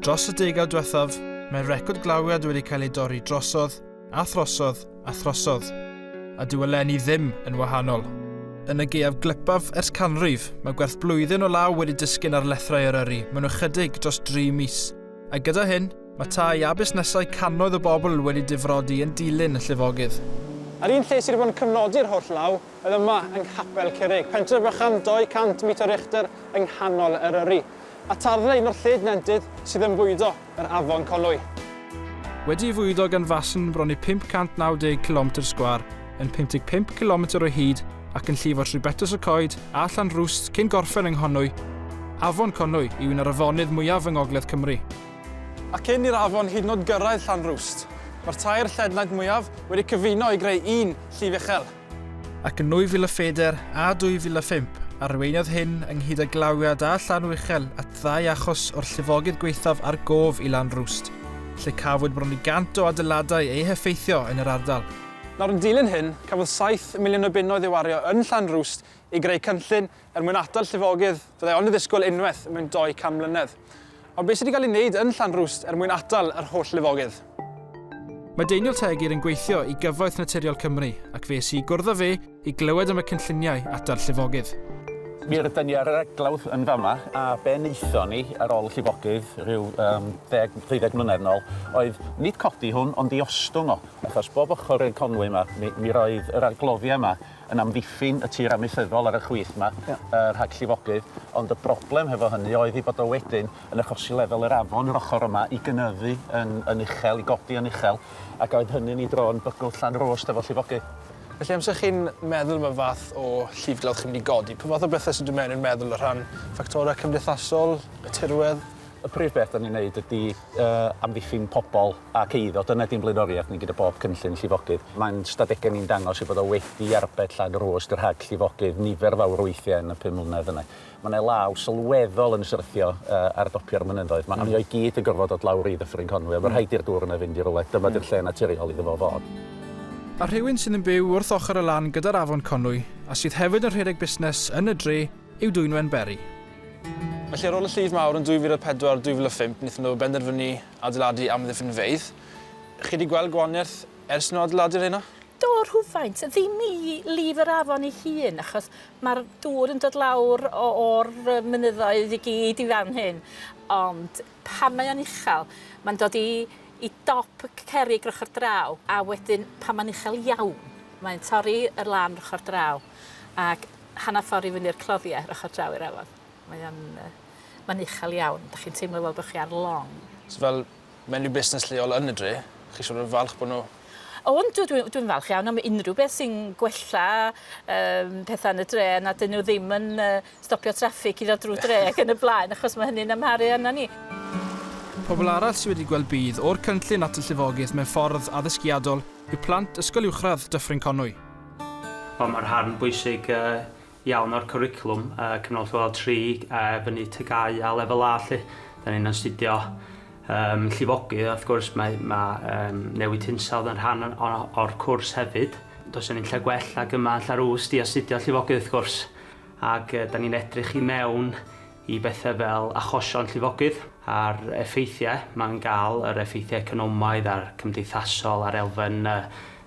Dros y degawd diwethaf, mae record glawiad wedi cael ei dorri drosodd, a throsodd, a throsodd, a dyw eleni ddim yn wahanol. Yn y gaeaf glypaf ers canrif, mae gwerth blwyddyn o law wedi disgyn ar lethrau Eryri mewn ychydig dros dri mis, a gyda hyn, mae tai a busnesau cannoedd o bobl wedi difrodi yn dilyn y llifogydd. Yr un lle sydd wedi bod yn cyfnodi'r holl law oedd yma yng Nghapel Curig, pentref bychan 200 metr uchder yng nghanol Eryri. a tarddu un o'r lled nentydd sydd yn bwydo yr Afon Conwy. Wedi ei fwydo gan fasn bron i 590 cilometr sgwâr, yn 55 cilometr o hyd ac yn llifo trwy Betws y Coed a Llanrwst cyn gorffen yng Nghonwy, Afon Conwy yw un o'r afonydd mwyaf yng Ngogledd Cymru. A cyn i'r afon hyd yn oed gyrraedd Llanrwst, mae'r tair lled nant mwyaf wedi cyfuno i greu un llif uchel. Ac yn 2004 a 2005, arweiniodd hyn ynghyd â glawiad a llanw uchel at ddau achos o'r llifogydd gwaethaf ar gof i Lan Rwst, lle cafwyd bron i 100 o adeiladau eu heffeithio yn yr ardal. Nawr yn dilyn hyn, cafodd saith miliwn o bunnoedd ei wario yn Llan Rwst i greu cynllun Er mwyn atal llifogydd, fyddai ond yn ddisgwyl unwaith mewn 200 mlynedd. Ond beth sydd wedi cael ei wneud yn Llanrwst er mwyn atal yr holl lifogydd? Mae Daniel Tegir yn gweithio i Gyfoeth Naturiol Cymru ac fe es i i gwrdd â fe i glywed am y cynlluniau atal llifogydd. Mi rydan ni ar yr eglawdd yn fama, a be wnaethon ni ar ôl y llifogydd rhyw um, 10, 20 mlynedd yn ôl oedd nid codi hwn ond i ostwng o, achos bob ochr i'r Conwy yma mi, mi roedd yr argloddiau yma yn amddiffyn y tir amaethyddol ar y chwith 'ma, yy rhag llifogydd, ond y broblem hefo hynny oedd ei bod o wedyn yn achosi lefel yr afon yr ochr yma i gynyddu yn yn uchel, i godi yn uchel, ac oedd hynny'n ei dro yn bygwth Llanrwst hefo llifogydd. Felly amser chi'n meddwl am y fath o llifglawdd chi'n mynd i godi, pa fath o bethe sy'n dod mewn i'r meddwl o rhan ffactorau cymdeithasol, y tirwedd? Y prif beth 'da ni'n neud ydi amddiffyn pobl ac eiddo, dyna ydi'n blaenoriaeth ni gyda bob cynllun llifogydd. Mae'n stadegau ni'n dangos ei bod o wedi arbed llan yr oes rhag llifogydd nifer fawr o weithiau yn y pum mlynedd yna. Mae 'na law sylweddol yn syrthio ar dopio'r mynyddoedd 'ma, a mi oedd gyd yn gorfod dod lawr i Ddyffryn Conwy, oedd yn rhaid i'r dŵr yna fynd i rywle, dyma 'di'r lle naturiol iddo fo fod. A rhywun sydd yn byw wrth ochr y lan gyda'r afon Conwy a sydd hefyd yn rhedeg busnes yn y dre yw Dwynwen Berry. Felly ar ôl y llif mawr yn 2004, 2005, wnaethon nhw benderfynu adeiladu amddiffynfeydd. Chi wedi gweld gwahaniaeth ers nhw adeiladu rheina? Do, rhywfaint. Ddim i lif yr afon ei hun, achos mae'r dŵr yn dod lawr o'r mynyddoedd i gyd i fan hyn. Ond pan mae o'n uchel, mae'n dod i i dop y cerrig ochr draw, a wedyn pan mae'n uchel iawn, mae'n torri y lan ochr draw. ac hanner ffordd i fyny'r cloddiau ar ochr draw i'r afon. Mae o'n... yy mae'n uchel iawn. Dach chi'n teimlo fel bod chi ar long. So fel menyw busnes lleol yn y dre, chi siŵr o fod yn falch bod nhw... O yndw, dwi dwi'n falch iawn am unrhyw beth sy'n gwella yym petha yn y dre nad 'yn nhw ddim yn yy stopio traffig i ddod drwy dre ac yn y blaen achos mae hynny'n amharu arna ni. Pobl arall sydd wedi gweld budd o'r cynllun at y llifogydd mewn ffordd addysgiadol yw plant Ysgol Uwchradd Dyffryn Conwy. Wel, mae'r rhan bwysig iawn o'r cwricwlwm cyfnod lleol tri a fyny TGAU a Lefel A 'lly. Dan ni'n astudio llifogydd a wrth gwrs mae newid hinsawdd yn rhan o'r cwrs hefyd. Does 'na ddim lle gwell nag yma yn Llarws i astudio llifogydd wrth gwrs. ac dan ni'n edrych i mewn i bethau fel achosion llifogydd a'r effeithiau mae'n gael, yr effeithiau economaidd a'r cymdeithasol a'r elfen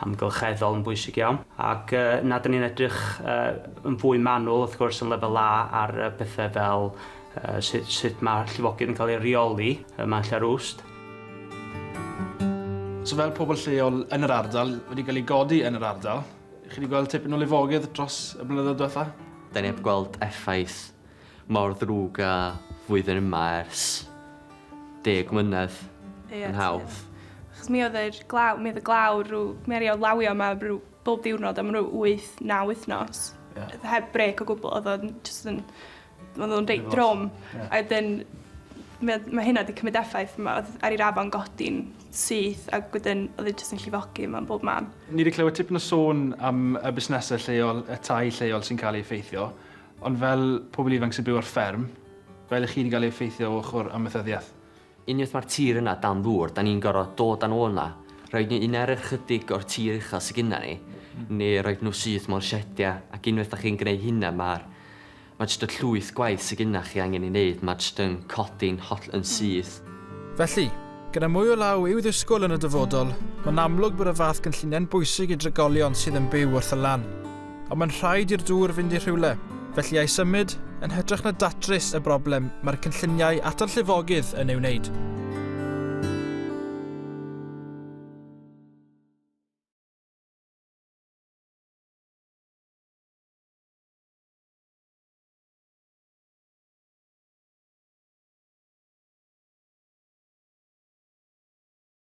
amgylcheddol yn bwysig iawn. Ac na, dan ni'n edrych yn fwy manwl, wrth gwrs, yn lefel A ar bethau fel sut, sut mae llifogydd yn cael ei reoli ym Mhant Rhust. So fel pobl lleol yn yr ardal, wedi cael ei godi yn yr ardal, Chi wedi gweld tipyn o lifogydd dros y blynyddoedd diwetha? Da ni heb gweld effaith mor ddrwg a flwyddyn yma ers deg mlynedd yn hawdd. Achos mi oedd yr glaw, mi oedd y glaw rhyw, mi aru o lawio yma rhyw bob diwrnod am rhyw wyth, naw wythnos. Ia. Heb brêc o gwbl, oedd o'n jyst yn Mae nhw'n reit drwm. A wedyn, mae, mae hynna wedi cymryd effaith. Mae oedd ar i'r afon godi'n syth ac wedyn oedd e jyst yn llifogi yma bob man. Ni wedi clywed tipyn o sôn am y busnesau lleol, y tai lleol sy'n cael ei effeithio, ond fel pobl ifanc sy'n byw ar fferm, fel i chi wedi cael ei effeithio o ochr amaethyddiaeth, Unwaith mae'r tir yna dan ddŵr, dan ni'n gorfod dod â nhw yna, rhoid nhw i mewn i'r chydig o'r tir uchel sy gynna ni, neu rhoid nhw syth mewn siediau, ac unwaith dach chi'n gwneud hynna mae'r... mae jyst y llwyth gwaith sy gynna chi angen ei wneud, mae jyst yn codi'n holl... yn syth. Felly, gyda mwy o law i'w ddisgwyl yn y dyfodol, mae'n amlwg bod y fath gynlluniau'n bwysig i drigolion sydd yn byw wrth y lan. Ond mae'n rhaid i'r dŵr fynd i rhywle, felly a'i symud, yn hytrach na datrys y broblem mae'r cynlluniau at y llifogydd yn ei wneud.